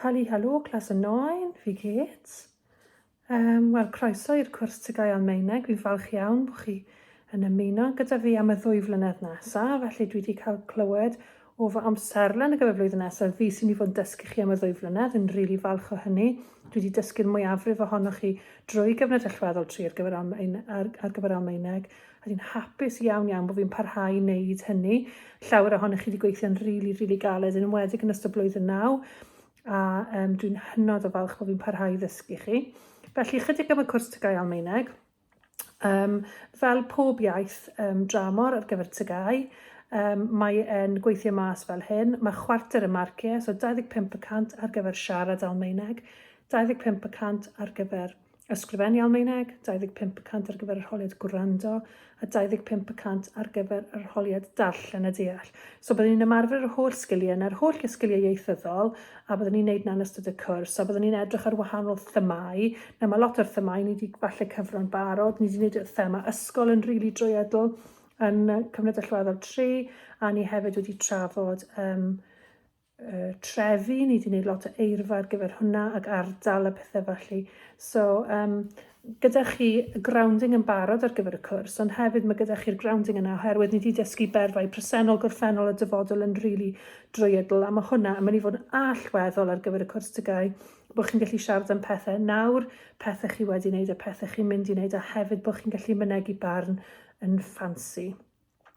Hali Halo, clas y noen, fi Kate. Um, Wel, croeso i'r cwrs Tygau Almaeneg. Fi'n falch iawn bod chi yn ymuno gyda fi am y ddwy flynedd nesaf. Felly dwi wedi cael clywed o fy amserlen ar gyfer flwyddyn nesaf, fi sy'n mynd i fod yn dysgu chi am y ddwy flynedd, fi'n rili falch o hynny, dwi wedi dysgu'r mwyafrif ohonoch chi drwy gyfnod allweddol tri ar gyfer Almaen, ar, ar gyfer Almaeneg, a dwi'n hapus iawn iawn bod fi'n parhau i wneud hynny. Llawer ohonoch chi wedi gweithio'n rili, really, rili really galed, yn ymwedig yn ystod blwyddyn naw, a um, dwi'n hynod o falch bod fi'n parhau i ddysgu chi. Felly, chydig am y cwrs Tygau Almaeneg. Um, fel pob iaith um, dramor ar gyfer tygau, um, mae e'n gweithio mas fel hyn. Mae chwarter y marciau, so 25% ar gyfer siarad Almaeneg, 25% ar gyfer ysgrifennu Almaeneg, 25% ar gyfer yr holiad gwrando, a 25% ar gyfer yr holiad darllen a deall. So byddwn ni'n ymarfer yr holl sgiliau yna, yr holl gysgiliau ieithyddol, a byddwn ni'n neud 'na yn ystod y cwrs, a byddwn ni'n edrych ar wahanol themâu. Nawr mae lot o'r themâu ni wedi falle cyfro'n barod, ni wedi neud y thema ysgol yn rili drwyadl yn Cyfnod Allweddol tri, a ni hefyd wedi trafod um, y trefi, ni wedi gwneud lot o eirfa ar gyfer hwnna ac ardal a pethau felly. So, um, gyda chi grounding yn barod ar gyfer y cwrs, ond hefyd mae gyda chi'r grounding yna oherwydd ni wedi dysgu berfau presennol, gorffennol a dyfodol yn rili really drwyadl a mae hwnna yn mynd i fod yn allweddol ar gyfer y cwrs tygau bod chi'n gallu siarad am pethau nawr, pethau chi wedi wneud a pethau chi'n mynd i wneud a hefyd bod chi'n gallu mynegu barn yn ffansi.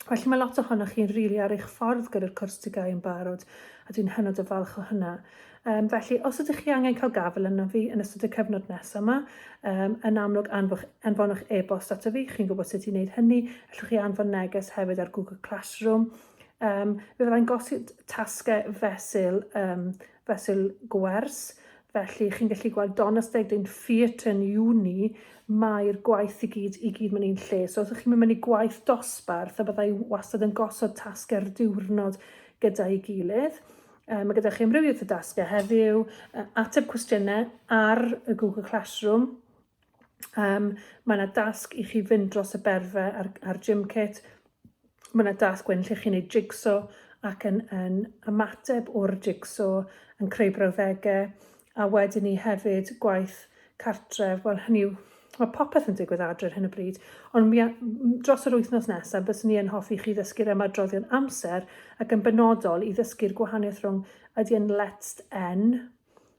Felly mae lot ohonoch chi'n rili really ar eich ffordd gyda'r cwrs TGAU yn barod, a dwi'n hynod o falch o hynna. Um, felly, os ydych chi angen cael gafel yna fi yn ystod y cyfnod nesaf yma, um, yn amlwg anfoch, anfonwch e-bost ato fi, chi'n gwybod sut i wneud hynny, allwch chi anfon neges hefyd ar Google Classroom. Um, fe fyddai'n gosod tasgau fesul um, fesul gwers, felly chi'n gallu gweld Donas Degdyn Theatre yn uni, mae'r gwaith i gyd, i gyd mewn un lle. So os ydych chi'n mynd mewn i gwaith dosbarth, a byddai wastad yn gosod tasgau'r diwrnod gyda'i gilydd. Um, mae gyda chi amrywiaeth o dasgau heddiw, ateb cwestiynau ar y Google Classroom, Um, mae yna dasg i chi fynd dros y berfe a'r, ar gym kit. Mae yna dasg wedyn lle chi'n ei jigso ac yn, yn ymateb o'r jigso yn creu brawddegau. A wedyn ni hefyd gwaith cartref, wel hynny yw Mae popeth yn digwydd adre ar hyn o bryd, ond mi, dros yr wythnos nesaf, bys ni yn hoffi chi ddysgu'r ymadroddion amser ac yn benodol i ddysgu'r gwahaniaeth rhwng ydy yn let's n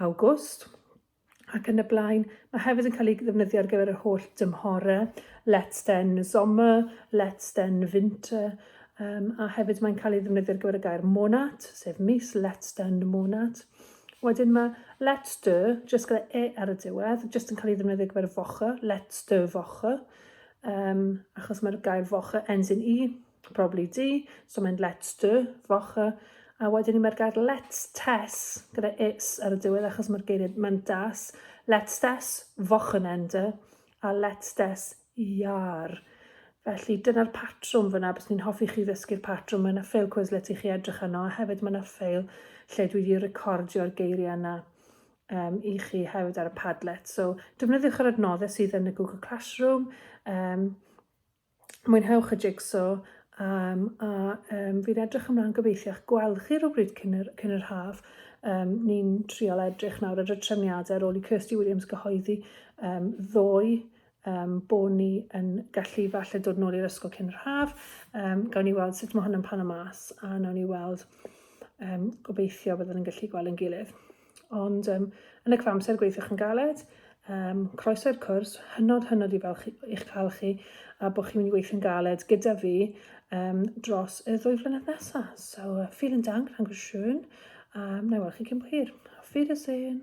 Awgwst ac yn y blaen. Mae hefyd yn cael ei ddefnyddio ar gyfer yr holl dymhore, Let's den Sommer, Let's den Winter, um, a hefyd mae'n cael ei ddefnyddio ar gyfer y gair monat, sef mis, Let's den monat. Wedyn mae Let's do, jyst gyda e ar y diwedd, jyst yn cael ei ddefnyddio ar gyfer y focha, Let's do focha, um, achos mae'r gair focha ends in e, probably di, so mae'n let's do, focha, a wedyn ni mae'r gair let's tess, gyda it's ar y diwedd achos mae'r geiriad mae'n das, let's tess, fochyn ender, a let's tess, iar. Felly dyna'r patrwm fyna, bys ni'n hoffi chi ddysgu'r patrwm, mae yna ffeil Quizlet i chi edrych yno, a hefyd mae yna ffeil lle dwi wedi recordio'r geiriau yna um, i chi hefyd ar y Padlet. So defnyddiwch yr adnoddau sydd yn y Google Classroom, um, mwynhewch y jigso um, a um, fi'n edrych ymlaen gobeithiwch gweld chi rhywbryd cyn yr, cyn yr haf. Um, ni'n trial edrych nawr ar y trefniadau ar ôl i Kirsty Williams gyhoeddi um, ddoe um, bo ni yn gallu falle dod nôl i'r ysgol cyn yr haf. Um, gawn ni weld sut mae hwn yn pan y mas a nawn ni weld um, gobeithio byddwn yn gallu gweld yn gilydd. Ond um, yn y cyfamser gweithiwch yn galed, um, croeso i'r cwrs, hynod hynod i falch i'ch cael chi a bod chi'n mynd i weithio'n galed gyda fi um, dros y ddwy flynedd nesaf. So, uh, vielen dank, danke schön, um, na i weld chi cyn bo hir. Auf Wiedersehen!